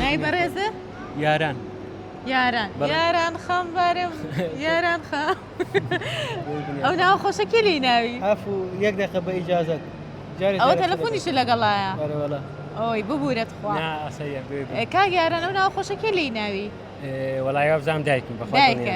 ناوی بەڕێزە؟ یاران یاران یاران خەم بارم یاران خە ئەو ناو خۆشە کێ لی ناوی هەفو یەک دەقە بە ئیجازت ئەوە تەلەفۆنیشە لەگەڵایە ئەوەی ببورێت خوا کاگەیاران ئەو ناو خۆشە کێ لی ناوی وەڵای وابزانام دایکم بەخوایکە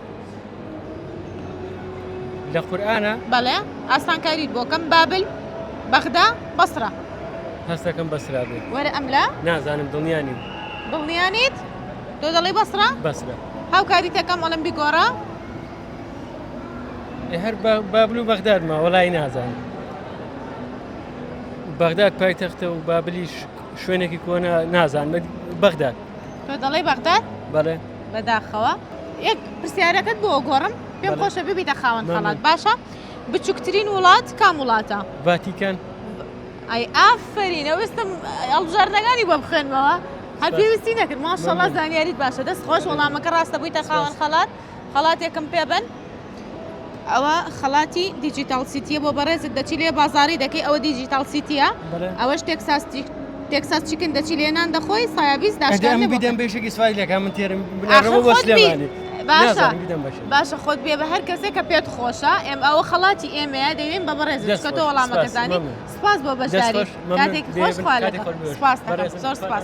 لە قورئانە؟ بەڵێ ئاسانکاریت بۆ کەم بابل بەغدا بەسڕە هەستەکەم بەسرا بێ وەرە ئەم لە نازانم دڵنیا نیم دڵنیا نیت تۆ دەڵێی بەسڕە بەسرە هاوکاریتەکەم ئەڵم بیگۆڕە ئێ هەر با- بابل و بەغداد ما وەڵی نازانم بەغداد پایتەختە و بابلیش شوێنێکی کۆنە نازانم بەغداد تۆ دەڵێ بەغداد بەڵێ بەداخەوە یەک پرسیارەکەت بۆ گۆڕم پێم بەڵێ. خۆشە ببیتە خاوەن مەمنون. خەڵات باشە بچووکترین وڵات کام وڵاتە ڤاتیکان ئای ئافەرینە وستم هەڵبژاردنەکانی بۆ بخوێنمەوە هەر سپاس. پێویستی نەکرد ماشەڵا مەمنون. زانیاریت باشە دەست خۆش وەڵامەکە ڕاستە بوویتە خاوەن سپاس. خەڵات خەڵاتێکم پێ بەن ئەوە خەڵاتی دیجیتال سیتیە بۆ بەڕێزت دەچی لێ بازاری دەکەی ئەوە دیجیتال سیتیە ئەوەش تێکساس تێکساس چیکن دەچی لێ نان دەخۆی سایابیز داشکان بدەم بێشێکی سوای لەکە من تێرم باشە باشە خۆت بێ بە هەر کەسێک کە پێت خۆشە ئێم ئەوە خەڵاتی ئێمەیە دەوێن بە بەڕێز دەستکەتەوە وەڵامەکەزانی سپاس بۆ بەشداری کاتێک خۆش خوا لە سپاس زۆر سپاس.